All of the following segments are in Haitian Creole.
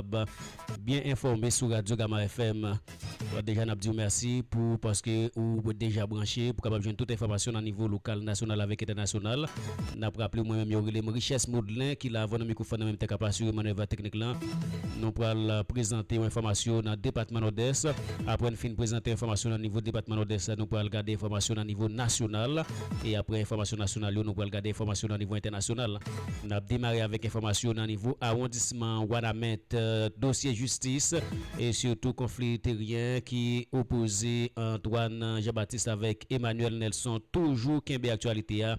kapab byen enfòme sou Radyo Gama FM. Deja n ap di w mèsi pou paske ou deja branche pou kapab jwenn tout enfòmasyon nan nivo lokal, nasyonal avèk entènasyonal. N ap raple w mwen menm yo rele m Richès Moudlen ki la avan nan mikwofòn nan menm tèt k ap asire manèv teknik lan. Nou pral prezante w enfòmasyon nan depatman Nòdès. Aprè n fin prezante enfòmasyon nan nivo depatman Nòdès la, nou pral gade enfòmasyon nan nivo nasyonal. E aprè enfòmasyon nasyonal yo, nou pral gade enfòmasyon nan nivo entènasyonal. N ap demare avèk enfòmasyon nan nivo awondisman Wanament, dosye jistis e sitou konfli teryen ki opoze Antoine Jean Baptiste avèk Emmanuel Nelson toujou kenbe aktyalite a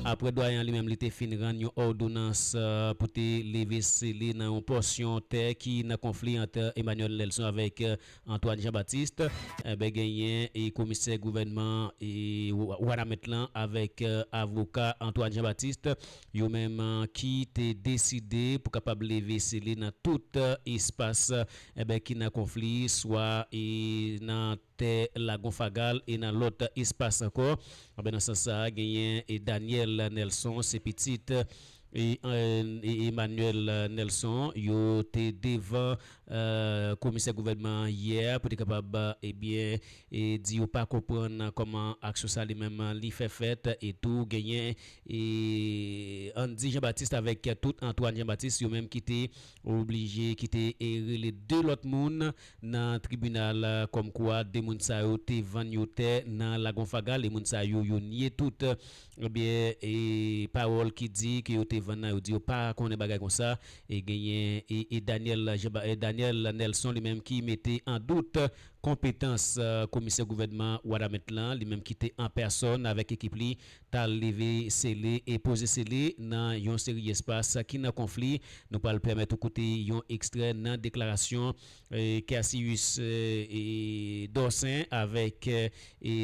aprè Dwayen an li menm li te fin rann yon òdonans pou te leve sele nan yon pòsyon tè ki nan konfli ant Emmanuel Nelson avèk Antoine Jean Baptiste enben genyen e komisè gouvènman e wanament lan avèk avoka Antoine Jean Baptiste yo menm ki te deside pou kapab leve sele nan tout espas enben ki nan konfli swa e nan tè lagon fagal e nan lòt espas ankò anben nan sans sa genyen e Daniel Nelson se pitit e Emmanuel Nelson yo te devan komisè gouvènman an yè pou te kapab ebyen di yo pa konprann kòman aksyon sa li menm li fè fèt e tou genyen Andy Jean Baptiste avèk tout Antoine Jean Baptiste yo menm ki te oblije ki te rele 2 lòt moun nan tribinal kòmkwa 2 moun sa yo te vann yo tè nan Lagon Fagal e moun sa yo yo nye tout Ebyen e pawòl ki di ke yo te vann nan yo di yo pa konnen bagay konsa e genyen e Daniel e Daniel Nelson li menm ki mete an dout konpetans komisè gouvènman Wanament lan li menm ki te an pèsòn avèk ekip li tal leve sele e poze sele nan yon seri espas ki nan konfli nou pral pèmèt ou koute yon ekstrè nan deklarasyon Cassius Dorcin avèk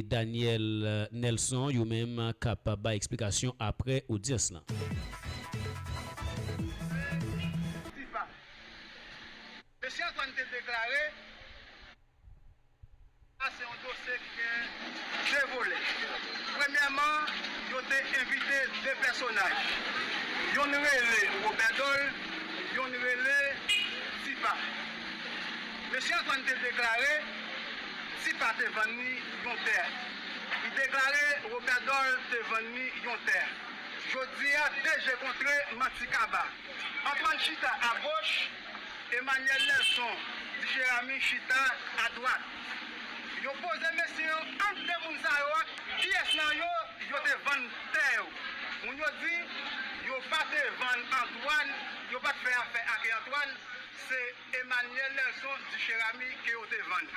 Daniel Nelson yo menm k ap bay eksplikasyon aprè odyans lan. Mesye Antoine te deklare. Sa se yon dosye ki gen 2 volè. Premyèman, yo te envite 2 pèsonaj. Yonn rele Robèdòl, yonn rele Tipa. Mesye Antwàn te deklare Tipa te vann li yon tè. Li deklare Robèdòl te vann li yon tè. Jodi a, 2 je kontre, manti kaba. Antwàn chita agoch. Emmanuel Nelson di Jeramy chita a dwat. Yo poze mesye yo ant 2 moun sa yo ak kiyès nan yo yo te vann tè yo. Moun yo di yo pa te vann Antoine, yo pa t fè afè ake Antoine, se Emmanuel Nelson di Jeramy ke yo te vann.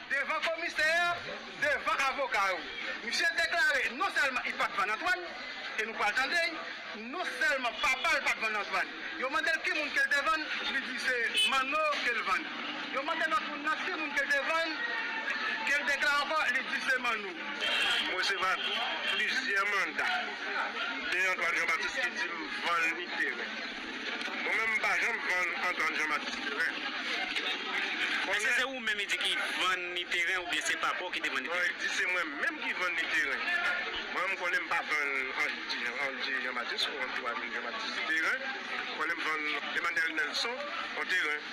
Devan komisè a, devan avoka yo, misye deklare non sèlman li pat vann Antwàn, e nou pral tande l, non sèlman papa l pat vann Antwàn. Yo mande l ki moun ke l te vann, li di se Manno ke l vann. Yo mande lòt moun nan ki moun ke l te vann, ke l deklare ankò, li di se Manno. M resevwa plizyè manda de Antwàn Jan Batis ki di m vann li teren. Mwen menm m pa janm vann Antoine Jean Max teren. Èske se ou menm li di ki vann li teren oubyen se papa w ki te vann li teren? Non, li di se mwen menm ki vann li teren. Mwen menm m konnen m pa vann Andy Jean Baptiste ou Antoine Jean Baptiste teren. M konnen m vann Emmanuel Nelson yon teren.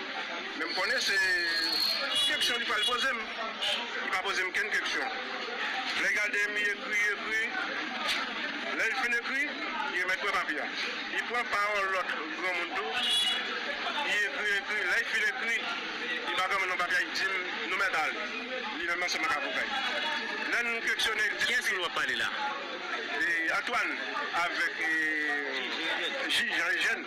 Men m konnen se keksyon li pral poze m. Li pa poze m kenn keksyon. Lè l gade m, li ekri, li ekri. Lè l fin ekri, li remèt mwen papye a. Li pran pa yon lòt granmoun tou, li ekri, ekri. Lè l fin ekri, li ba granmoun nan papye a, li di m, Nou mèt ale. Li menm ansanm ak avoka l. Lè n keksyone l, li di m, Kiyès ki w ap pale la? Antwàn avèk jij Jan Ejèn.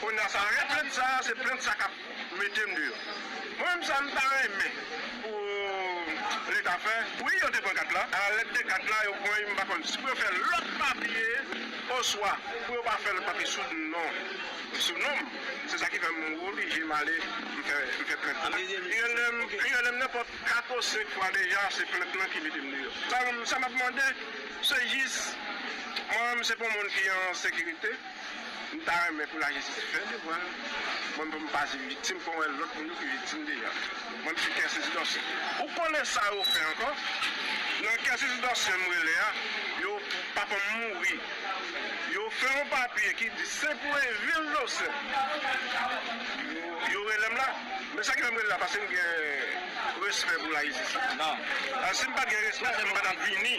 Konnya sa rèd rèd sa se plent sa kap metem deyò mwen menm sa m ta renmen pou leta fè wi yo te pran kat la a lèt de kat la yo pran m pa konn si pou yo fè lòt papye oswa pou yo pa fè lòt papye sou non sou non m se sa ki fè m oblije m ale m fè m fè plent la gen lè m gen lè m nan pòt 4 ou 5 fwa deja se plent lan ki metem deyò sa m sa map mande se jis mwen menm se pou moun ki an sekirite. M ta renmen pou lajistis fè devwa l. Mwen menm m pa se viktim fò m wè lòt moun yo ki viktim deja. Mwen m se kè sezi dòsyen. Ou konnen sa yo fè ankò? Nan kè sezi dòsyen m rele a, yo papa m mouri. Yo fè yon papye ki di se pou e vil Dosen. Yo rele m la. Men sa ki fè m rele la paske m gen respè pou lajistis la. Si m pat gen respè m pa tap vini.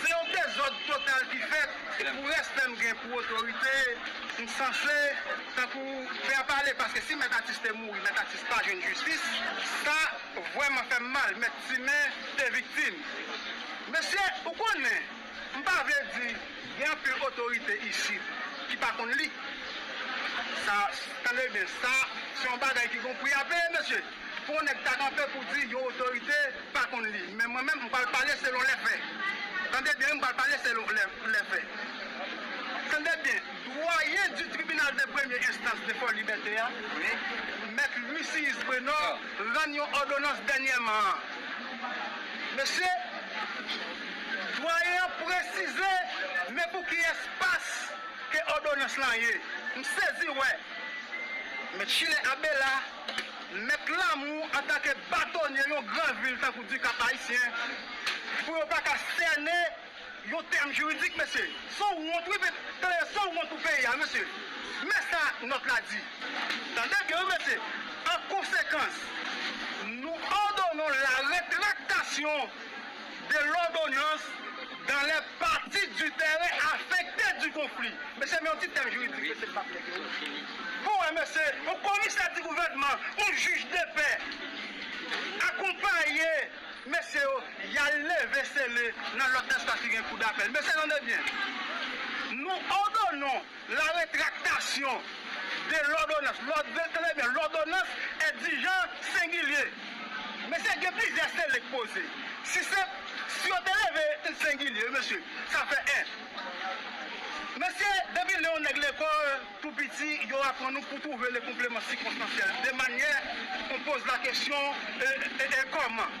Se yon dezòd total ki fèt pou respè m gen pou otorite m sanse tankou fè a pale paske si mèt atis te mouri mèt atis pa jwenn jistis sa vrèman fè m mal mèt simen te viktim mesye ou konnen m pa vle di gen anpil otorite isit ki pa konn li sa tande byen sa se yon bagay ki gon pri a peye mesye. Fo nèg ta kanpe pou di yon otorite pa konn li, men mwen menm m pral pale selon lè fè. Tande byen wi m pral pale selon lè fè. Tande byen, dwayen di tribinal de premye enstans de Fòlibète a, mèt Lucius Brenor rann yon òdonans dènyèman an. Mesye, dwayen an presize men pou ki espas ke òdonans lan ye. M sezi wè Mèt Schiller Abela. Mèt Lamour antanke batonye yon gran vil tankou Dikap Ayisyen pou yo pa ka sène yon tèm jiridik mesye son wont wi tande son wont pou peyi a mesye men sa nòt la di tande byen wi mesye an konsekans nou òdonon la retraktasyon de lòdonans dan lè pati di tèren afekte di konfli. Mesye men yon ti tèm jiridik mesye m pa plen ke pou wè mesye yon komisè di gouvènman yon jij de pè akonpaye mesye yo y al leve sele nan lòt espas ki gen kou dapèl mesye tande byen nou òdonon La retraktasyon de lòdonans, lòd, tande lè byen, lòdonans endijan, sengilye. Mesye, gen plizyè sele k poze. Si se, si yo te leve l sengilye, wi mesye, sa fè 1. Mesye, depi lè yon nèg lekòl tou piti, yo aprann nou pou twouve le konpleman sikonstansyèl, de manyè, on poze la kesyon, e, e, e, kòman.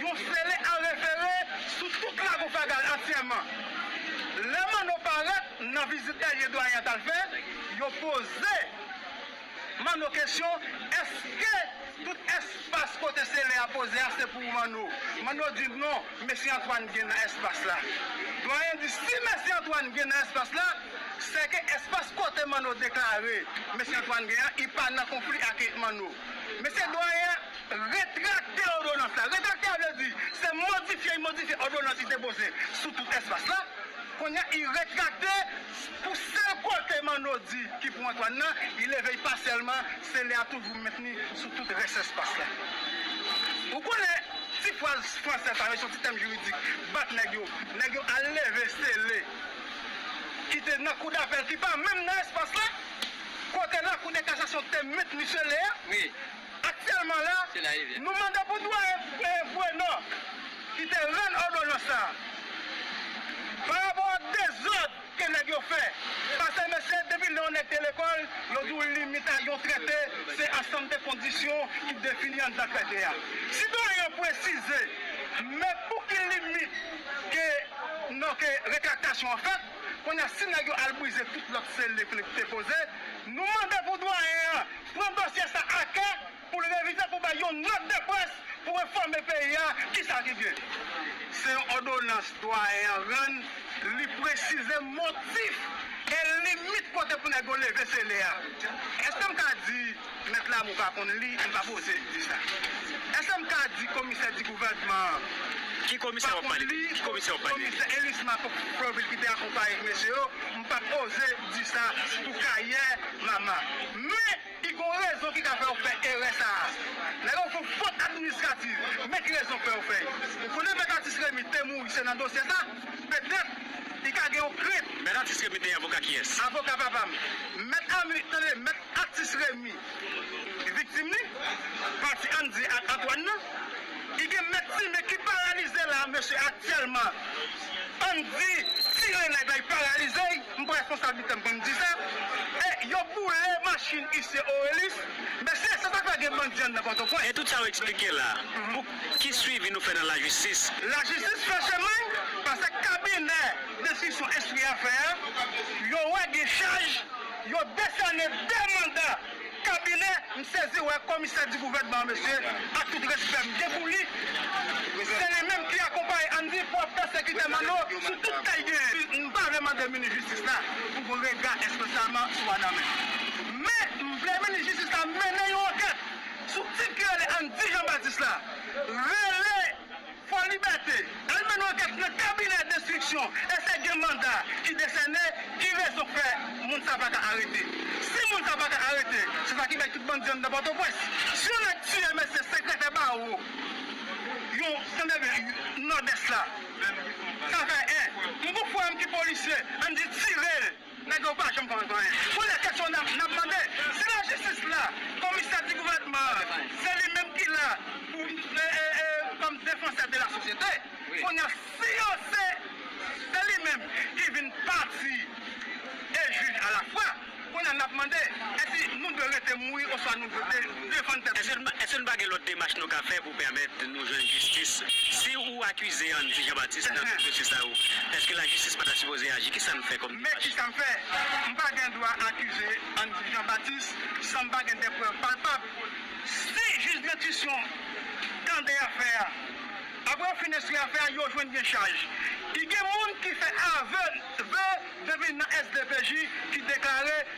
Yon sele a refere sou tout lago Fagal antyèman. Lè Manno parèt nan vizit dènye Dwayen an t al fè, yo poze Manno kesyon, Èske tout èspas kote sele a poze a se pou ou Manno? Manno di, Non, Mesye Antwàn gen nan èspas la. Dwayen di, Si Mesye Antwàn gen nan èspas la, sèke èspas kote Manno deklare Mesye Antwàn gen an, li pa nan konfli ake Manno. Mesye Dwayen. Retrakte òdonans la. Retrakte a vle di, se modifye y modifye òdonans li depoze sou tout espas la. Kounye a, y retrakte pou sèl kote Manno di ki pou Antwàn nan, y leve y pasyèlman, se lè a toujou mentni sou tout rès espas la. Ou konnen, ti fraz fransè sa yo, se yon ti tèm jiridik, bat nèg yo, nèg yo al leve sele ki te nan kou dapèl ki pa menm nan espas la, kote lakou de kasasyon te mentni sele a. Aktyèlman la, nou mande pou Dwayen Frenò, ki te rann òdonans sa a, pa rapò ak dezòd ke nèg yo fè, pase mesye depi lè yon nèg te lekòl, yo di w limit a yon trete se ansanm de kondisyon ki defini anndan trete a. Si Dwayen an presize men pou ki limit ke non ke retraktasyon an fèt, kounye a si nèg yo al brize tout lòt sele ke li te poze, nou mande pou Dwayen an pran dosye sa a kè pou l revize pou bay yon nòt de près pou enfòme peyi a ki sa ki gen. Se yon òdonans Dwayen an rann, li presize motif e limit kote pou nèg yo leve sele a. Èske m ka di Mèt Lamou pa konn li? M pa p oze di sa. Èske m ka di Komisè di gouvènman an pa konn li? Komisè Elisma Florvil ki te akonpaye mesye yo, m pa p oze. di sa pou karyè Mama. Men, i gon rezon ki ka fè ou fè erè sa a. Lè yo fon fot administrativ, men ki rezon k fè yo fè yo. Ou konnen Mèt Atis Remy te mouri se nan dosye sa? Petèt, li ka gen yon krent. Mèt Atis Remy te avoka kiyès? Avoka papa m. Mèt Ami, tande, Mèt Atis Remy, viktim li, pati an di ak Antwàn nan. I gen Mèt Time ki paralize la a, mesye aktyèlman, an di tire nèg la, i paralize. M pran responsabilite m pou m di sa. E yo boule machin isye Orelus. Mesye se sak fè gen bandi anndan pòtopwens. E tout sa ou eksplike la pou ki swivi nou fè nan lajistis? Lajistis fè chemay pase kabinè denstriksyon enstri afè a, yo wè gen chaj, yo desène 2 manda. Kabinè, m sezi wè komisè di gouvènman an mesye, ak tout respè m gen pou li, se li menm ki akonpaye Andy pou ap pèsekite Manno sou tout kay genyen. M pa vle mande minis jistis la pou gon rega espesyalman sou Adames. Men, m vle minis jistis la mennen yon ankèt sou tip ki rele Andy Jean Baptiste la. Rele. Fò Libète, al mennen ankèt nan kabinè destriksyon esèk gen manda ki desène, ki rezon fè moun sa paka arete? Si moun sa paka arete, se sa ki bay tout bandi anndan Pòtoprens. Si yon nèg tiye mesye sekretè bawo yon sendebe Nòdès la, sa fè 1. M pou frè m ki polisye, ann di tirel. Nèg yo pa janm konn anyen. Bon lè kesyon nap nap mande se la jistis la komisè di gouvènman an se li menm ki la pou kòm defansè de la sosyete kounya si yo se se li menm ki vin pati e jij a la fwa kounya nap mande èsi nou dwe rete mouri oswa nou dwe defann tèt nou. Èske nou pa gen lòt demach nou ka fè. pou pèmèt nou jwenn jistis. Si ou akize an di Jean Baptiste nan tout dosye sa yo, eske lajistis pa ta sipoze aji? Kisa n fè kòm demach? Men kisa m fè, m pa gen dwa akize an di Jean Baptiste san m pa gen de prèv palpab. Si jij dentition tande afè a, apre yo fin enstwi afè a, yo jwenn gen chaj. Ki gen moun ki fè ave, vè depi nan SDPJ ki deklare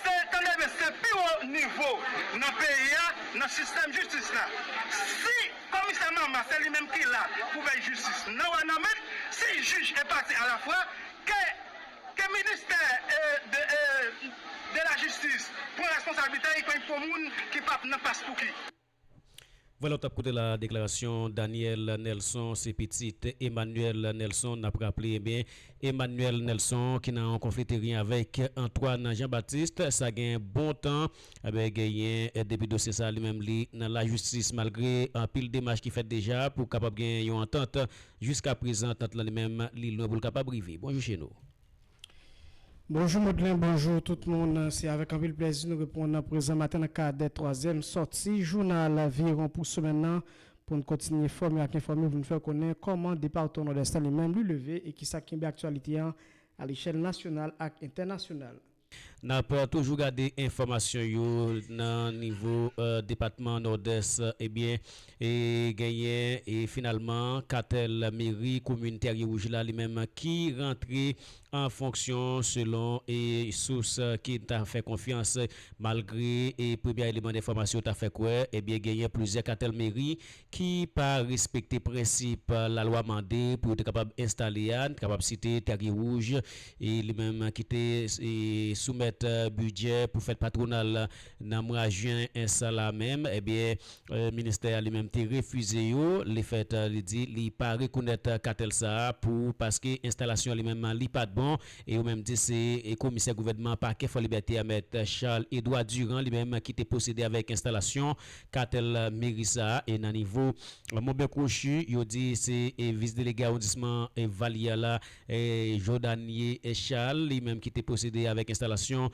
Se tande byen se pi wo nivo nan peyi a nan sistèm jistis la. Si komisè Mama se li menm ki la pou vèy jistis nan wanament, si jij e pati a la fwa, ke ke ministè de de la jistis pran responsablite li pou moun ki pap nan paspouki. Vòlè w tap koute la deklarasyon Daniel Nelson se pitit Emmanuel Nelson nap raple ebyen Emmanuel Nelson ki nan yon konfli teryen avèk Antoine Jean Baptiste sa gen bon tan ebyen genyen depi dosye sa li menm li nan lajistis malgre anpil demach ki fèt deja pou kapab genyen yon antant jiska prezan antant lan li menm li lwen pou l kapab rive Bonjou Chenaux. Bonjou Modlen, bonjou tout moun. Se avèk anpil plèzi nou reprann nan prezan maten nan kadè twazyèm sòti jounal Virewon pou semèn nan pou n kontinye enfòme ak enfòme pou n fè w konnen kòman departman Nòdès lan li menm li leve e kisa k kenbe aktyalite an alechèl nasyonal ak entènasyonal. N ap toujou gade enfòmasyon yo nan nivo depatman Nòdès. Ebyen, genyen finalman katèl meri komin Tèrye-Wouj la li menm ki rantre an fonksyon selon sous ke n ta fè konfyans. Malgre premye eleman enfòmasyon yo ta fè kwè, ebyen genyen plizyè katèl meri ki pa respekte prensip lalwa mande pou yo te kapab enstale a, n kapab site Tèrye Wouj e li menm ki te soumèt bidjè pou fèt patwonal nan mwa jen sa la menm ebyen ministè a li menm te refize yo le fèt li di li pa rekonèt katèl sa a pou paske enstalasyon li menm li pat bon e yo menm di se komisè gouvènman pakè Fòlibète a mèt Charles Edouard Durand li menm ki te pwosede avèk enstalasyon Katèl meri sa e nan nivo Monbè Kwochi yo di se vis delege awondisman Valyè la Jodanie Charles li menm ki te pwosede avèk enstalasyon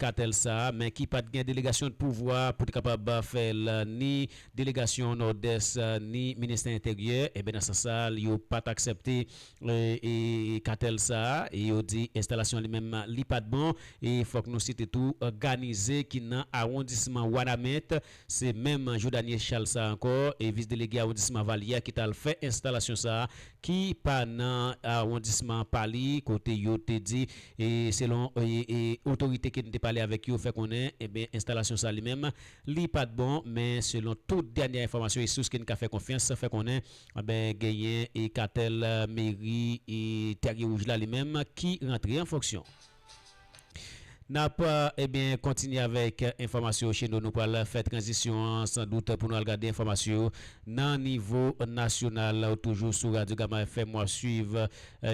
katèl sa men ki pat gen delegasyon de pouvwa pou te kapab fè l ni delegasyon Nòdès ni ministè entèryè e ben nan sans sa yo pat aksèpte e katèl sa a e yo di enstalasyon li menm li pa t bon e fòk nou site tou Ganize ki nan awondisman Wanament se menm Jodanie Charles sa a ankò e vis delege awondisman Valye a ki t al fè enstalasyon sa a ki pa nan awondisman pa li kote yo te di e selon e otorite ke n te pale avèk yo fè konnen enben enstalasyon sa a li menm li pa t bon men selon tout dènyè enfòmasyon e sous ke n ka fè konfyans fè konnen. Anben genyen e katèl meri e tèrye wouj la li menm ki rantre an fonksyon. Nap ebyen kontinye avèk enfòmasyon yo cheno nou pral fè tranzisyon an san dout pou nou al gade enfòmasyon yo nan nivo nasyonal ou toujou sou radyo gama FM wap swiv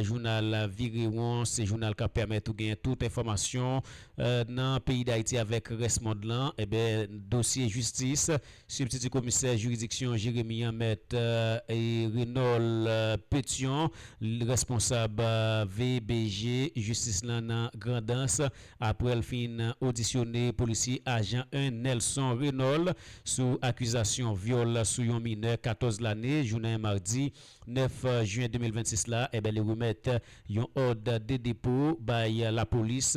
jounal virewon se jounal kap pèmèt ou genyen tout enfòmasyon nan peyi dayiti avèk rès mond lan ebyen dosye jistis Sibtiti komisè jiridiksyon Jeremi an mèt Renol Petion responsab VBJ jistis lan nan Grandans aprè l fin odisyone polisye ajan 1 Nelson Renol sou akizasyon vyòl sou yon minè 14 lane jounen madi 9 jen 2026 la, eben li remèt yon òd de depo bay lapolis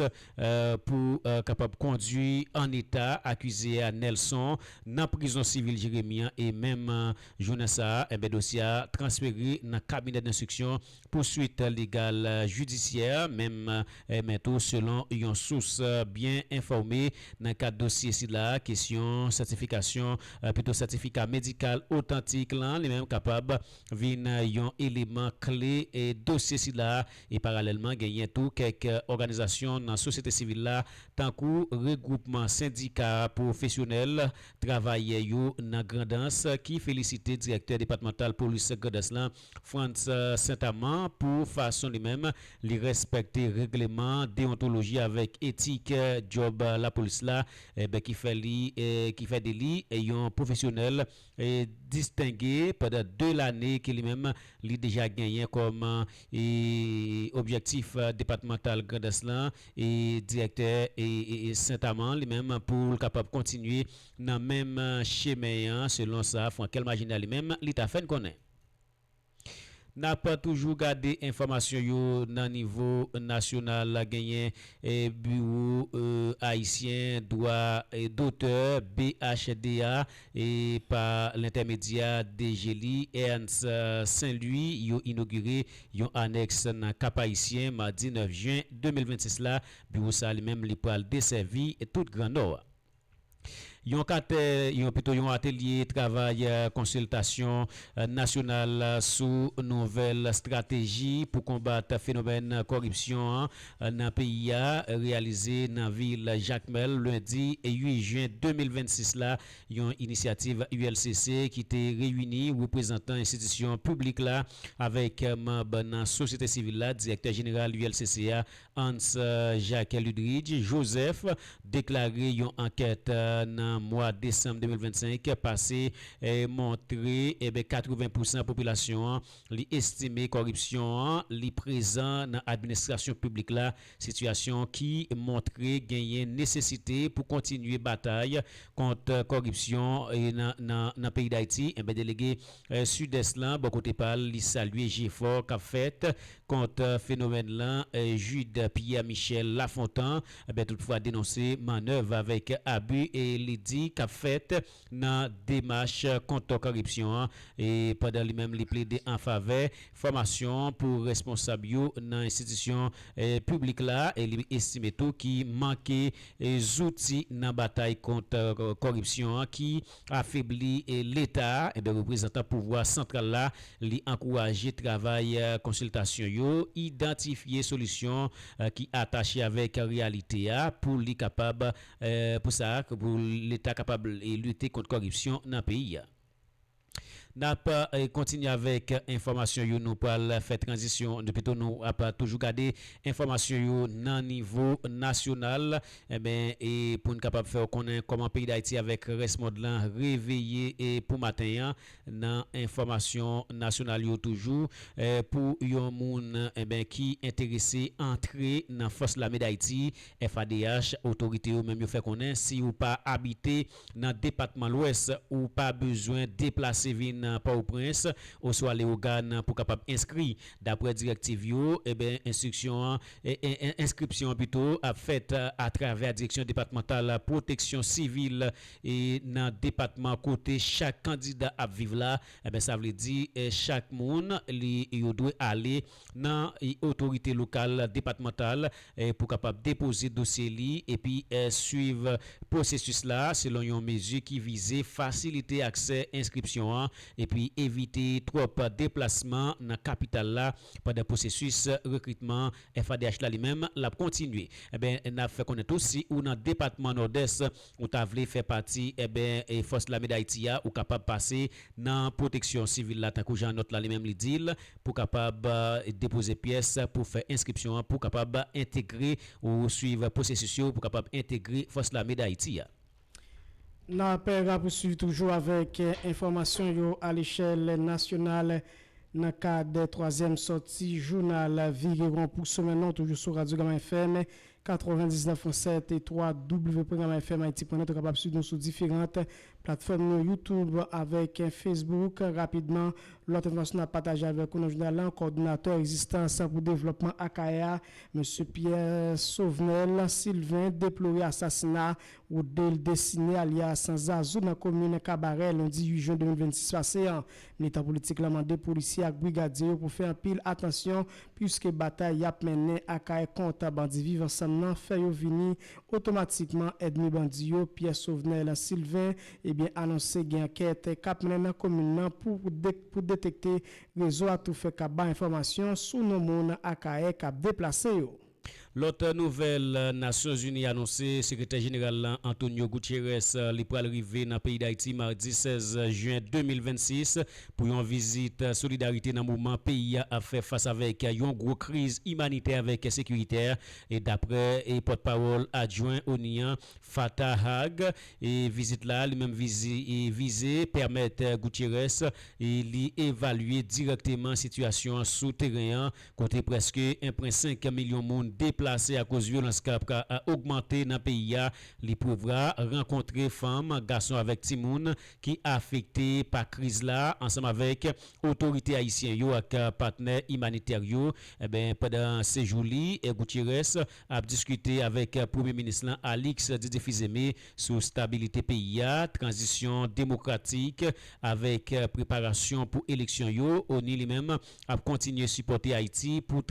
pou kapab kondwi an eta akize a Nelson nan prizon sivil Jeremi an e menm jounen sa a, eben dosye a transfere nan kabinè denstriksyon pou swit legal jidisyè, menm men tou selon yon sous byen enfòme nan kad dosye sila, kesyon sètifikasyon pito sètifika medikal otantik lan li menm kapab vin yon eleman kle dosye sila e paralèlman genyen tou kèk òganizasyon nan sosyete sivil la tankou regwoupman sendika pwofesyonèl travayè yo nan Grandans ki felisite direktè depatmantal polis Grandans lan Frantz Saint-Amand pou fason li menm li rèspèkte règleman deyontoloji avèk etik djòb lapolis la enben ki fè li ki fè de li yon pwofesyonèl distenge pandan 2 lane ke li menm li deja genyen kòm objektif depatmantal Grandans lan direktè Saint-Amand li menm pou l kapab kontinye nan menm chemen an selon sa Frankel Marginal li menm li ta fè n konnen. N ap toujou gade enfòmasyon yo nan nivo nasyonal. Genyen Biwo ayisyen dwa dotè, BHD, a e pa lentèmedyè DG li, Ernst Saint-Louis, yo inogire yon anèks nan Kap-Ayisyen madi 9 jen 2026 la. Biwo sa li menm li pral desèvi tout Gran Nò a. Yon katè, yon pito yon atelye travay konsiltasyon nasyonal sou nouvèl strateji pou konbat fenomèn koripsyon an nan peyi a reyalize nan vil Jakmèl lendi 8 jen 2026 la, yon inisyativ ULCC ki te reyini reprezantan enstitisyon piblik la avèk manb nan sosyete sivil la, Direktè Jeneral ULCC a, Hans Jacques Ludridge Joseph deklare yon ankèt nan mwa desanm 2025 pase montre 80 pousan popilasyon an li estime kòripsyon an li prezan nan administrasyon piblik la, sitiyasyon ki montre genyen nesesite pou kontinye batay kont kòripsyon nan peyi Dayiti. Delege Sidès lan bò kote pa l li salye jefò k ap fèt kont fenomèn lan, Jude Pierre Michel Lafontant toutfwa denonse mannèv avèk abi li di k ap fèt nan demach kont koripsyon an pandan li menm li plede an favè fòmasyon pou responsab yo nan enstitisyon piblik la li estime tou ki manke zouti nan batay kont koripsyon an ki afebli Leta a, enben reprezantan pouvwa santral la, li ankouraje travay konsiltasyon yo, idantifye solisyon ki atache avèk reyalite a pou li kapab pou sa a, pou Leta kapab lite kont kòripsyon nan peyi a. N ap kontinye avèk enfòmasyon yo, nou pral fè tranzisyon, pito nou ap toujou gade enfòmasyon yo nan nivo nasyonal, Enben, e pou n kapab fè w konnen kòman peyi Dayiti avèk rès mond lan reveye e pou maten an, nan enfòmasyon nasyonal yo toujou, pou yon moun, enben, ki enterese antre nan Fòs Lame Dayiti, FADH, otorite yo menm yo fè konnen si ou pa abite, nan depatman Lwès, ou pa bezwen deplase vin Pòoprens oswa Lewogàn pou kapab enskri. Daprè direktiv yo, enstriksyon an, enskripsyon an pito, ap fèt atravè Direksyon Depatmantal Pwoteksyon Sivil nan depatman kote chak kandida ap viv la, sa vle di chak moun li yo dwe ale. nan otorite lokal, depatmantal pou kapab depoze dosye li epi swiv pwosesis la selon yon mezi ki vize fasilite aksè enskripsyon an epi evite twòp deplasman nan kapital la pandan pwosesis rekritman FADH la li menm l ap kontinye. Nap fè konnen tou si ou nan depatman Nòdès Ou ta vle fè pati eben fòs lame dayiti a ou kapab pase nan pwoteksyon sivil la tankou jan nòt la li menm li di l pou kapab depoze pyès pou fè enskripsyon an pou kapab entegre ou swiv pwosesis yo pou kapab entegre fòs lame dayiti a. N ap rapousuiv toujou avèk enfòmasyon yo alechèl nasyonal nan kad twazyèm sòti jounal vire won pou semèn lan toujou sou radyo Gama FM 99 pwen 7 e 3 www.gramafmhaiti.net ou kapab swiv nou sou diferant platfòm nou youtube avèk facebook rapidman lòt enfòmasyon nap pataje avèk ou nan jounal lan kòdonatè rezistans pou devlòpman akayè a mesye pierre sauvnel sylvain deplore asasina rodnel destiné alyas zazou nan komin kabarè lendi 8 jen 2026 pase an Militan politik la mande polisye ak brigadye yo pou fè anpil atansyon puiske batay y ap mennen Akayè kont bandi Viv Ansanm nan fè yo vini otomatikman èdmi bandi yo. Pierre Sauvnel Sylvain ebyen anonse gen ankèt k ap mennen nan komin nan pou pou detekte rezo atoufè k ap bay enfòmasyon sou non moun Akayè k ap deplase yo. Lòt nouvèl, Nasyonzini anonse Sekretè Jeneral la Antonio Guterres li pral rive nan peyi Dayiti madi 16 jen 2026 pou yon vizit solidarite nan moman peyi a ap fè fas avèk yon gwo kriz imanitè avèk sekiritè daprè pòt pawòl adjwen onu an Fatah Hagg vizit la li menm vize pèmèt Guterres li evalye dirèkteman sitiyasyon an sou teren an kote prèske 1.5 milyon moun deplase akoz vyolans k ap ogmante nan peyi a, li prevwa rankontre fanm, gason avèk timoun ki afekte pa kriz la ansanm avèk otorite ayisyen yo ak patnè imanitè yo. Pandan sejou li, Gutiérrez ap diskite avèk Premye Minis lan Alix Didier Fils-Aimé sou stabilite peyi a, tranzisyon demokratik avèk preparasyon pou eleksyon yo. Oni li menm ap kontinye sipòte Ayiti pou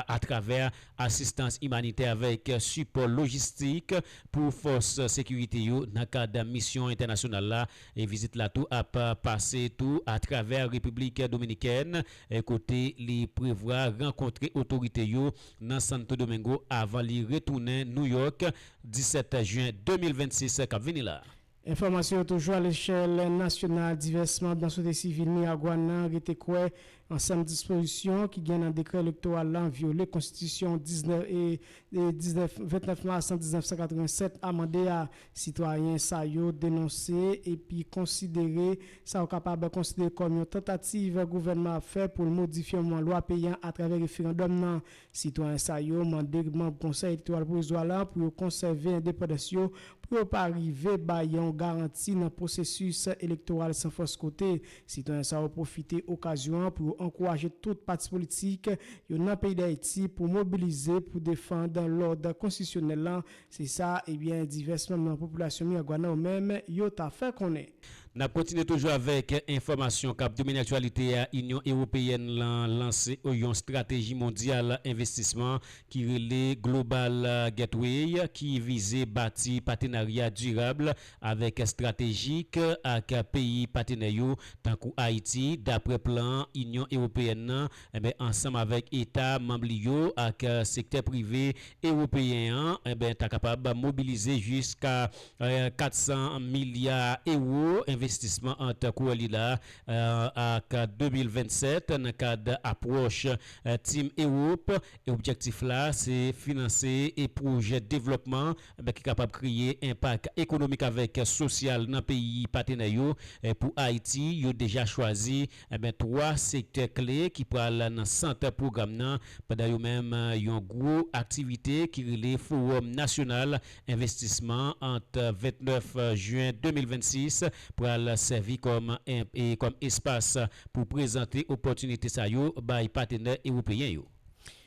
atravè asistans imanitè avèk sipò lojistik pou fòs sekirite yo nan kad misyon entènasyonal la. Vizit la tou ap pase tou atravè Repiblik Dominikèn kote li prevwa rankontre otorite yo nan Santo Domingo avan li retounen Nouyòk 17 jen 2026 kap vini la. Enfòmasyon yo toujou alechèl nasyonal divès manb nan sosyete sivil miragwàn nan rete kwè ansanm dispozisyon ki gen nan dekrè elektoral lan vyole konstitisyon 19 e 19 29 mas 1987 amande a. Sitwayen sa yo denonse epi konsidere sa yo kapab konsidere kòm yon tantativ gouvènman ap fè pou l modifye yon lwa peyi an atravè referandòm nan. Sitwayen sa yo mande manb Konsèy Elektoral Pwovizwa la pou yo konsève endepandans yo pou yo pa rive bay yon garanti nan pwosesis elektoral san fòs kote. Sitwayen sa yo pwofite okazyon an pou yo ankouraje tout pati politik yo nan peyi Dayiti pou mobilize pou defand lòd konstitisyonèl lan Se sa ebyen divès manm nan popilasyon Miragwàn yo menm yo ta fè konnen. Nap kontinye toujou avèk enfòmasyon kap domine aktyalite a, Inyon Ewopeyèn lan lanse yon strateji mondyal envestisman ki rele Global Gateway ki vize bati patenarya dirab avèk estratejik ak peyi patenè yo tankou Ayiti, daprè plan Inyon Ewopeyèn nan. Enben, ansanm avèk eta manm li yo ak sektè prive ewopeyen an, enben ta kapab mobilize jiska 400 milya ewo envestisman ant kouwè li la ak 2027 nan kad apwòch Team Europe. E objektif la se finanse pwojè devlòpman ki kapab kreye enpak ekonomik avèk sosyal nan peyi patenè yo pou Ayiti yo deja chwazi Enben 3 sektè kle ki pral nan sant pwogram nan pandan yo menm yon gwo aktivite ki rele Fowòm Nasyonal Envestisman ant 29 Jyen 2026 pral sèvi kòm kòm espas pou prezante opòtinite sa yo bay patenè ewopeyen yo.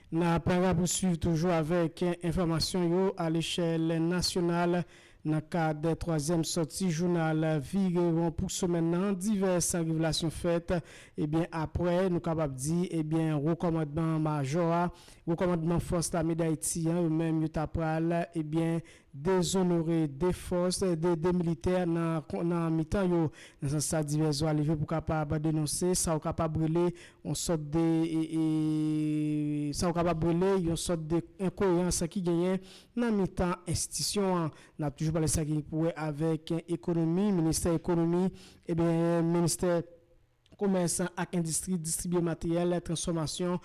N ap rapousuiv toujou avèk enfòmasyon yo alechèl nasyonal Nan kad twazyèm sòti jounal Vire Won pou semèn nan, divès revelasyon fèt. Ebyen apre, nou kapab di, ebyen Wo Kòmandman Majò a, Wo Kòmandman Fòs Lame Dayiti an, yo menm yo ta pral, ebyen, dezonore 2 fòs, 2 de militè nan nan mitan yo. Nan sans sa, divès vwa leve pou kapab denonse sa ou kapab rele on sòt de, sa ou kapab rele yon sòt de enkoyerans ki genyen Nan mitan enstitisyon an. N ap toujou pale sa ki gen pou wè avèk ekonomi, ministè ekonomi, ebyen ministè komès ak endistri distribye materyèl transfòmasyon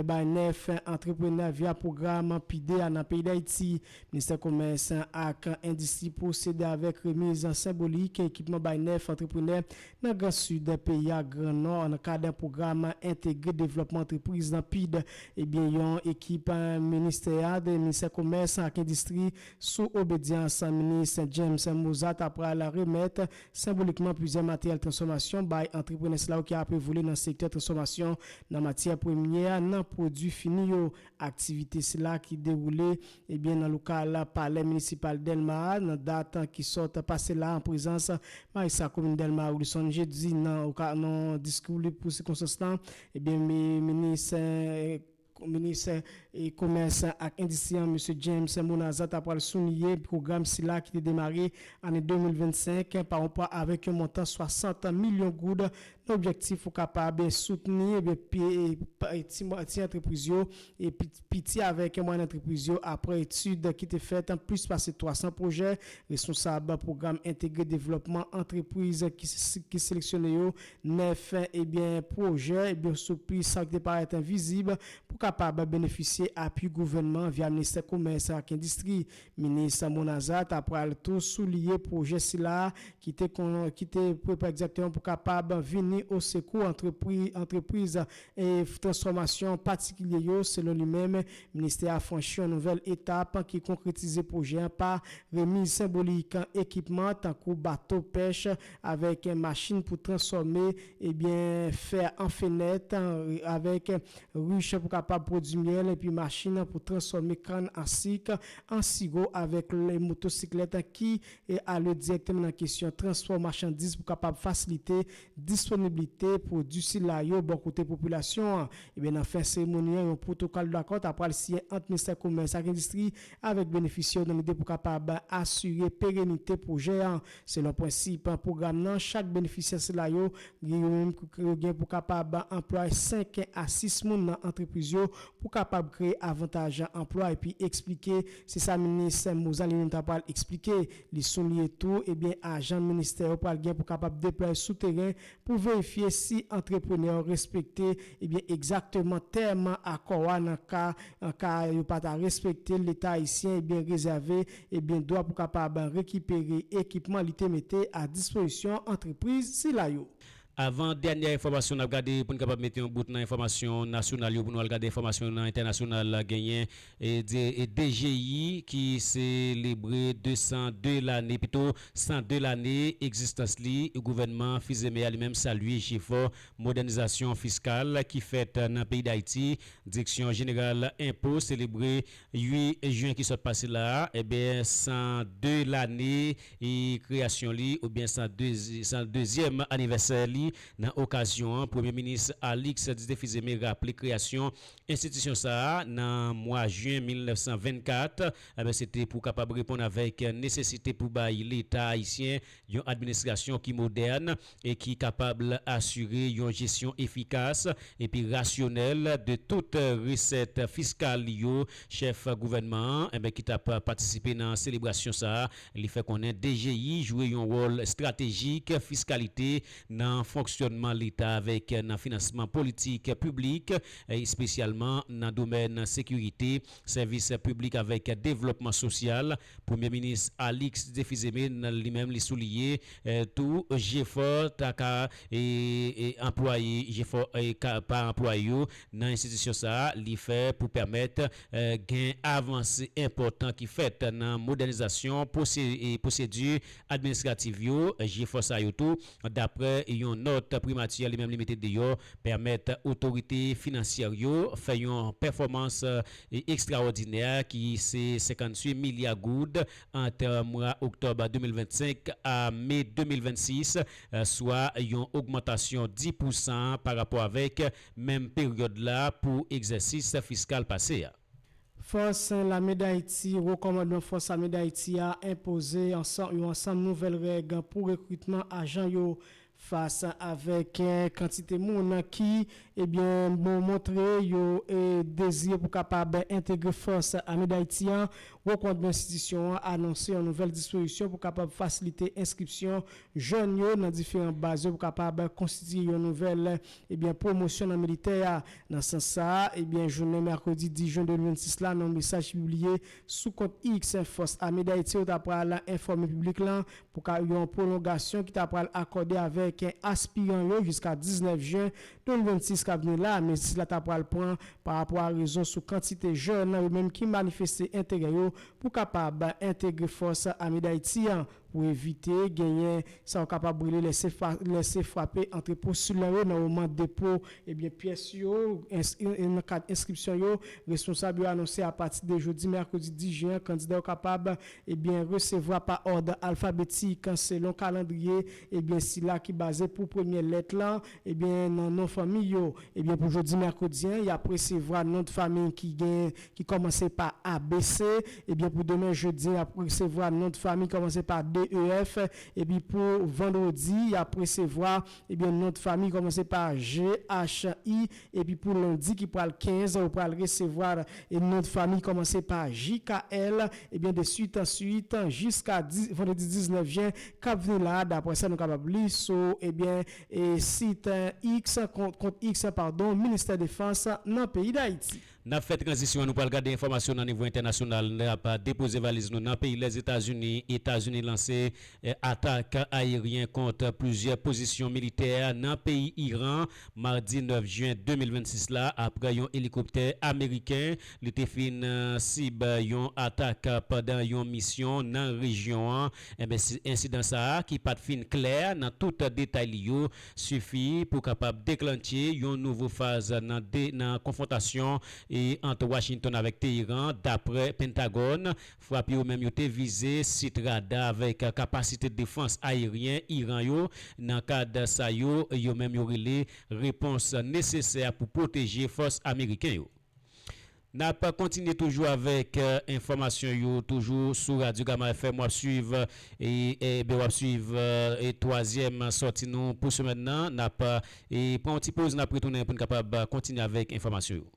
bay 9 antreprenè via pwogram PIDE a nan peyi Dayiti. Ministè komès ak endistri pwosede avèk remiz senbolik ekipman bay 9 antreprenè Nan gran Sid peyi a, gran Nò, nan kad pwogram entegre devlòpman antrepriz nan PIDD, ebyen yon ekip ministè a, Ministè Komès ak Endistri, sou obedyans minis James Mozat ta pral remèt senbolikman plizyè materyèl transfòmasyon bay antreprenè sila yo ki ape vole nan sektè transfòmasyon nan matyè premyè nan pwodui fini yo. Aktivite sila ki dewoule ebyen nan lokal palè minisipal Dèlma a nan dat ki sot pase la an prezans Majistra komin Dèlma Wilson Jeudi nan nan diskou li pou sikonstans la ebyen minis minis komès ak endistri an Mesye James Monaza ta pral souliye pwogram sila ki te demare ane 2025 pa yon pa avèk yon montan 60 milyon goud Nan objektif pou kapab soutni ti antrepriz yo, piti avèk mwayèn antrepriz yo aprè etid ki te fèt plis pase 300 pwojè, responsab pwogram entegre devlòpman antrepriz ki seleksyone yo 9 pwojè sou plis sa ki te parèt vizib pou kapab benefisye apui gouvènman via Ministè Komès ak Endistri. Minis Monaza ta pral tou souliye pwojè sila ki te kon ki te pre pa egzakteman pou kapab vini o sekou antrepri antrepriz e transfòmasyon patikilye yo selon li menm ministè a franchi yon nouvèl etap ki konkretize pwojè an pa remiz senbolik ekipman tankou bato pèch avèk machin pou transfòme ebyen fè an fenèt, avèk rich pou kapab pwodui myèl epi machin pou transfòme kann an sik, an siwo avèk motosiklèt ki ale dirèkteman nan kesyon transfò machandiz pou kapab fasilite disponiblite pwodui sila yo bò kote popilasyon an. Ebyen nan fen seremoni an yon pwotokòl dakò ta pral siyen ant Ministè Komès ak Endistri avèk benefisye yo nan lide pou kapab asire perenite pwojè an. Selon prensip pwogram nan, chak benefisyè sila yo gen yo menm pou yo gen pou kapab anplwaye 5 a 6 moun nan antrepriz yo pou kapab kreye avantaj anplwa epi eksplike, se sa minis Mozalinnenn ta pral eksplike. Li souliye tou, ebyen ajan ministè yo pral gen pou kapab deplwaye sou teren pou verifye si antreprenè yo respekte ebyen egzakteman tèm akò a nan ka ka yo pa ta respekte l, Leta ayisyen ebyen rezève Ebyen dwa pou kapab rekipere ekipman li te mete a dispozisyon antrepriz sila yo. Avan dènyè enfòmasyon nap gade poun kapab mete yon bout nan enfòmasyon nasyonal yo pou nou al gade enfòmasyon yo nan entènasyonal genyen DGI ki selebre 202 lane pito 102 lane egzistans li gouvènman Fils-Aimé a li menm salye jefò modènizasyon fiskal ki fèt nan peyi Dayiti Direksyon jeneral enpo selebre 8 jen ki sot pase la a, enben 102 lane kreyasyon li oubyen 102 zyèm anivèsè li. Nan okazyon an, Premye Minis Alix Didier Fils-Aimé raple kreyasyon enstitisyon sa a nan mwa jen 1924, se te pou kapab reponn avèk nesesite pou bay Leta ayisyen Yon administrasyon ki modèn e ki kapab asire yon jesyon efikas epi rasyonèl de tout resèt fiskal li yo, chèf gouvènman an ki t ap patisipe nan selebrasyon sa li fè konnen DGI jwe yon wòl estratejik fiskalite nan fonksyònman leta avèk nan finansman politik piblik espesyalman nan domèn sekirite, sèvis piblik avèk devlòpman sosyal. Premye minis Alix Défiseme li menm li souliye tou jefò ta ka anplwaye jefò pa anplwaye yo nan enstitisyon sa li fè pou pèmèt gen avanse enpòtan ki fèt nan modènizasyon pwosedi administrativ yo jefò sa yo tou daprè yon nòt primati li menm li mete deyò pèmèt otorite finansyè yo fè yon pèfòmans ekstrawòdinè ki se 58 milya goud ant mwa oktòb 2025 a me 2026, swa yon ogmantasyon 10 pousan parapò avèk menm peryòd la pou egzèsis fiskal pase a. Fòs Lame Dayiti, Wo Kòmandman Fòs Lame Dayiti a enpoze yon ansanm nouvèl règ pou rekritman ajan yo Fas avèk kantite moun ki ebyen montre yo dezire pou kapab entegre Fòs Ame Dayiti an, Wo Kòmandman enstitisyon an anonse yon nouvèl dispozisyon pou kapab fasilite enskripsyon jèn yo nan diferan baz yo pou kapab konstitiye yon nouvèl ebyen pwomosyon nan militè a. Nan sans sa a, ebyen jounen mèkredi 10 jen 2026 la nan yon mesaj ki pibliye sou kont X, Fòs Ame Dayiti yo ta pral enfòme piblik lan Pou ka yon pwolongasyon ki ta pral akòde avèk aspiran yo jiska 19 jen 2026 k ap vini la a, mezi sila ta pral pran pa rapò a rezon sou kantite jèn yo menm ki manifeste enterè yo pou kapab entegre Fòs Ame Dayiti an pou evite genyen sa yo kapab rele lese frape antre postilan yo nan moman depo ebyen pyès yo nan kad enskripsyon yo. Responsab yo anonse apati de jodi mèkredi 10 jen an kandida yo kapab Ebyen, resevwa pa òd alfabetik, selon kalandriye, ebyen sila ki baze pou premyè lèt lan, ebyen nan non fanmi yo. Ebyen pou jodi mèkredi an, y ap resevwa non dfamiy ki gen, ki kòmanse pa ABC, ebyen pou demen jedi y ap resevwa non dfamiy kòmanse pa DEF, epi pou vandredi y ap resevwa, ebyen non dfamiy kòmanse pa GHI, Epi pou lundi ki pral 15 ou pral resevoir e non de famille komanse pa JKL ebyen de suite en suite jiska vendredi 19 jen kap vni la daprè sa nou kapab li sou ebyen e site X kont X pardon ministè defans nan peyi dayiti. Nap fè tranzisyon an nou pral gade enfòmasyon nan nivo entènasyonal nap depoze valiz nou nan peyi Lèzetazini Etazini lanse atak ayeryen kont plizyè pozisyon militè nan peyi Iran madi 9 jen 2026 la aprè yon elikoptè ameriken li te fin sib yon atak pandan yon misyon nan rejyon an ensidan sa a ki pat fin klè nan tout detay li yo sifi pou kapab deklannche yon nouvo faz nan 2 nan konfwontasyon ant Washington avèk Teheran, dapre Pentagòn. Frap yo menm yo te vize sit rada avèk kapasite defans ayeryen Iran yo nan kad sa yo yo menm yo rele repons nesesè pou pwoteje fòs ameriken yo. Nap kontinye toujou avèk enfòmasyon yo toujou sou radyo gama FM wap swiv ebyen wap swiv twazyèm sòti nou pou semèn nan nap pran yon ti poz nap retounen poun kapab kontinye avèk enfòmasyon yo.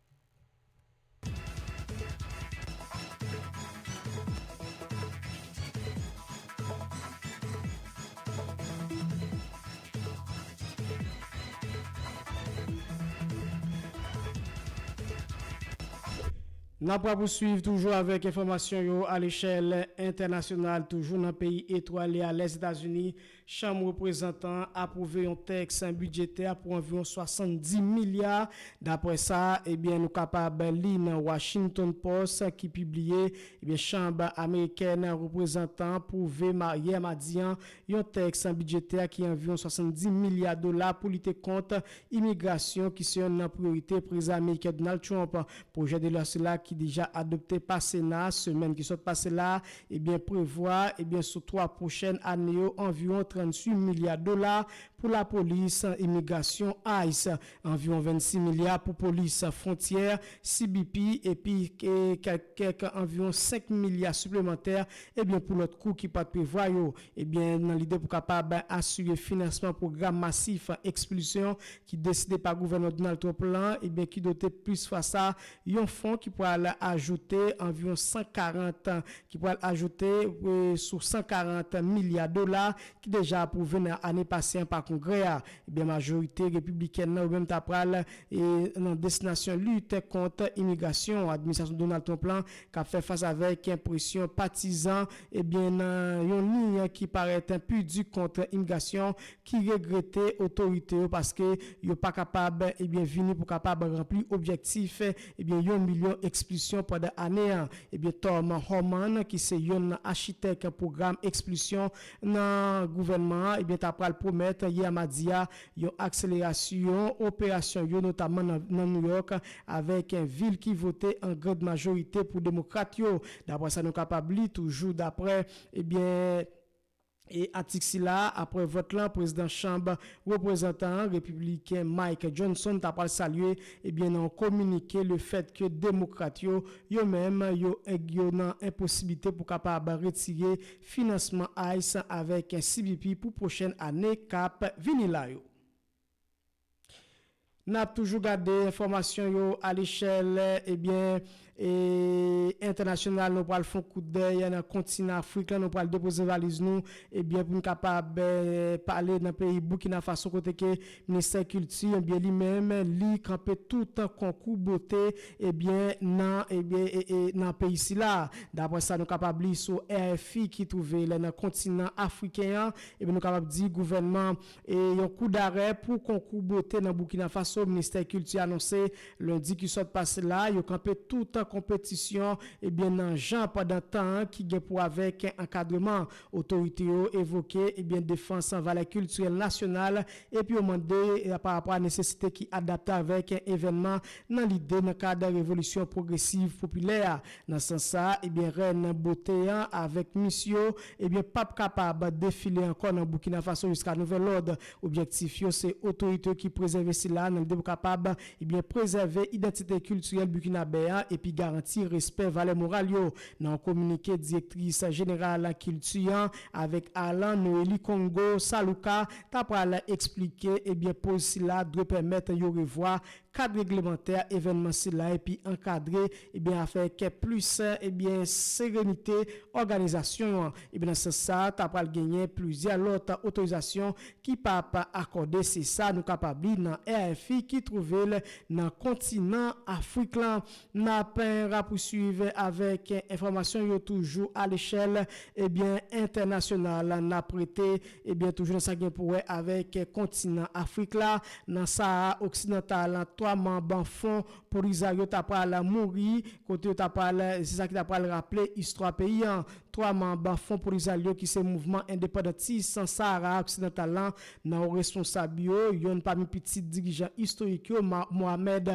N ap rapousuiv toujou avèk enfòmasyon yo alechèl entènasyonal toujou nan peyi etwale a Lèzetazini, Chanm Reprezantan an apwouve yon tèks bidjetè pou anviwon 70 milya daprè sa e byen nou kapab li nan Washington Post ki pibliye Ebyen Chanb amerikèn reprezantan an pwouve ma yè madi an yon tèks bidjetè ki anviwon 70 milya dola pou lite kont imigrasyon ki se yonn nan priyorite Prezidan ameriken Donald Trump. Pwojè de lwa sila ki deja adopte pa Sena semèn ki sot pase la a ebyen prevwa ebyen sou 3 pwochèn ane yo anviwon 38 milya dola pou lapolis imigrasyon, ice, Anviwon 26 milya pou polis fwontyè, CBP, epi kèk anviwon 5 milya siplemantè ebyen pou lòt kou ki pat prevwa yo ebyen nan lide pou kapab asire finansman pwogram masif ekspilsyon ki deside pa gouvènman Donald Trump lan ebyen ki dote plis fwa sa yon fon ki pral ajoute anviwon 140 ki pral ajoute sou 140 milya dola ki deja apwouve nan ane pase an pa Kongrè a, ebyen majorite Repiblikèn nan yo menm ta pral e nan destinasyon lit kont imigrasyon administrasyon Donald Trump lan k ap fè fas avèk presyon patizan ebyen nan yon liy ki parèt pi di kont imigrasyon ki regrete otorite yo paske yo pa kapab ebyen vini pou kapab ranpli objektif ebyen yon milyon ekspilsyon pandan ane an ebyen Tom Homan ki se yonn nan achitèk pwogram ekspilsyon nan gouvènman an ebyen ta pral pwomèt yè madi a yon akselerasyon operasyon yo notamman nan New York avèk vil ki vote an grand majorite pou demokrat yo daprè sa nou kapab li toujou daprè ebyen atik sila a aprè vòt lan prezidan chanb reprezantan an repibliken Mike Johnson ta pral salye ebyen nan yon kominike le fèt ke demokrat yo yo menm yo yo nan enposiblite pou kapab retire finansman ice avèk cbp pou pwochèn ane kap vini la yo. Nap toujou gade enfòmasyon yo alechèl ebyen entènasyonal nou pral fon koutdèy nan kontinan afrik lan nou pral depoze valiz nou ebyen poun kapab pale nan peyi Boukinafaso kote ke Ministè kilti ebyen li menm li kanpe tout konkou bote ebyen nan ebyen nan peyi sila. Daprè sa nou kapab li sou RFI ki twouve l nan kontinan afriken an ebyen nou kapab di gouvènman e yon kou darè pou konkou bote nan Boukina Faso ministè kilti anonse lendi ki sot pase la yo kanpe tout konpetisyon ebyen nan jan pandan tan ki gen pou avèk ankadreman Otorite yo evoke ebyen defans valè kiltirèl nasyonal epi yo mande parapò a nesesite ki adapte avèk evènman nan lide nan kad revolisyon pwogresiv popilè a. Nan sans sa a, ebyen rèn bote an avèk mis yo ebyen pap kapab defile ankò nan Boukina Faso jiska nouvèl òd. Objektif yo se otorite yo ki prezève sila nan lide pou kapab ebyen prezève idantite kiltirèl Bukinabè an epi garanti respè valè moral yo. Nan yon kominike direktris jeneral kilti an avèk Alan Noeli Kongo Saluka ta pral eksplike ebyen poz sila dwe pèmèt yo revwa kad reglemantè evènman sila epi ankadre ebyen avèk plis ebyen serenite òganizasyon an ebyen nan sans sa ta pral genyen plizyè lòt otorizasyon ki pa p akòde se sa nou kapab li nan RFI ki twouve l nan kontinan Afrik lan. Nap rapousuiv avèk enfòmasyon yo toujou a lechèl ebyen entènasyonal. Nap rete ebyen toujou nan sa gen pou wè avèk kontinan Afrik la nan Sahara oksidantal. 3 manb Fon Polizario ta pral mouri kote yo ta pral se sa ki ta pral raple istwa peyi an. 3 manb Fon Polizalyo ki se mouvman endepandantis Sahara oksidantal lan nan wo responsab yo, yonn pami pitit dirijan istorik yo Mohamed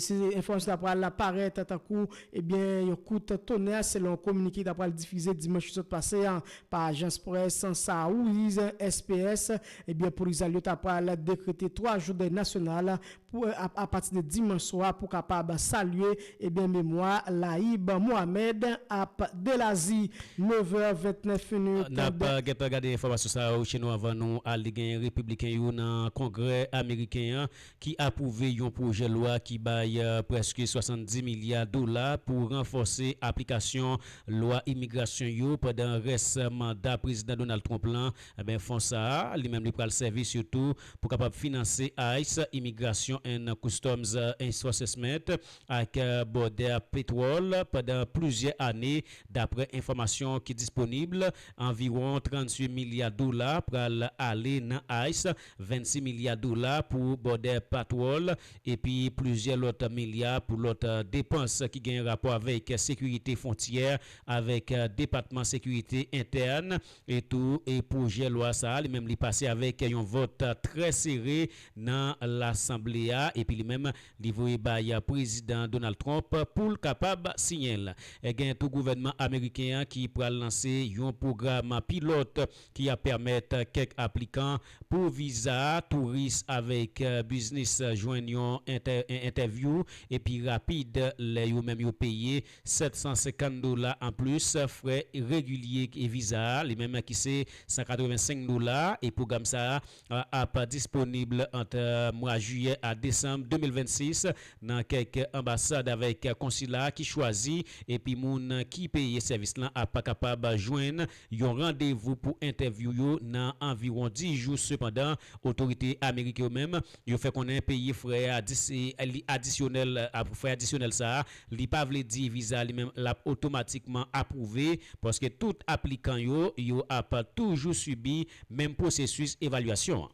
Si enfòmasyon ta pral la parèt tankou ebyen yon kout tonè selon kominike ki ta pral difize dimanch ki sot pase a pa ajans près Saúiz SPS, ebyen polizal yo ta pral dekrete 3 jou dèy nasyonal pou apati de dimanch swa pou kapab salye ebyen memwa Laïb Mohamed ap Delazi. 9 è 29 minit. Nap gentan gade enfòmasyon sa yo cheno avan nou ale genyen repibliken yo nan kongrè ameriken an ki apwouve yon pwojè lwa ki bay prèske 70 milya dola pou ranfòse aplikasyon lwa imigrasyon yo pandan rès manda Prezidan Donald Trump lan, enben fon sa a, li menm li pral sèvi sitou pou kapab finanse ice, Immigration and Customs Enforcement, ak Border Patrol pandan plizyè ane, daprè enfòmasyon ki disponib, anviwon 38 milya dola pral ale nan ice. 26 milya dola pou Border Patrol epi plizyè lòt milya pou lòt depans ki gen rapò avèk sekirite fwontyè avèk Depatman Sekirite Entèn e tou e pwojè lwa sa a li menm li pase avèk yon vòt trè sere nan Lasanble a epi li menm li voye bay Prezidan Donald Trump pou l kapab siyen l. Gen tou gouvènman ameriken an ki pral lanse yon pwogram pilòt ki ap pèmèt kèk aplikan pou viza touris avèk biznis jwenn yon entèvyou epi rapid lè yo menm yo peye 750 dola anplis frè regilye viza a li menm ki se 185 dola e pwogram sa a ap disponib ant mwa jiyè a desanm 2026 nan kèk anbasad avèk konsila ki chwazi epi moun ki peye sèvis lan ap kapab jwenn Yon randevou pou entèvyou yo nan anviwon 10 jou sepandan otorite amerik yo menm yo fè konnen peye frè adisyonèl frè adisyonèl sa a li pa vle di viza li menm lap otomatikman apwouve paske tout aplikan yo yo ap toujou sibi menm pwosesis evalyasyon an.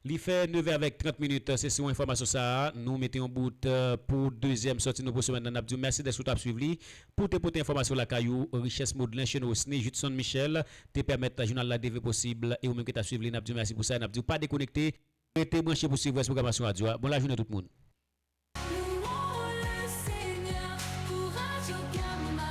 Li fè 9 è avèk 30 minit se sou enfòmasyon sa a nou mete yon bout pou dezyèm sòti nou pou semèn nan n ap di w mèsi dèske w t ap swiv li pou w te pote enfòmasyon w lakay ou richès Maudelin Chenrosny Judson Michel te pèmèt jounal la devni posib e ou menm ki t ap swiv li n ap di w mèsi pou sa e n ap di w pa dekonekte rete branche pou swiv rès pwogramasyon radyo a bon lajounen tout moun. Louons le Seigneur pour Radio Gama.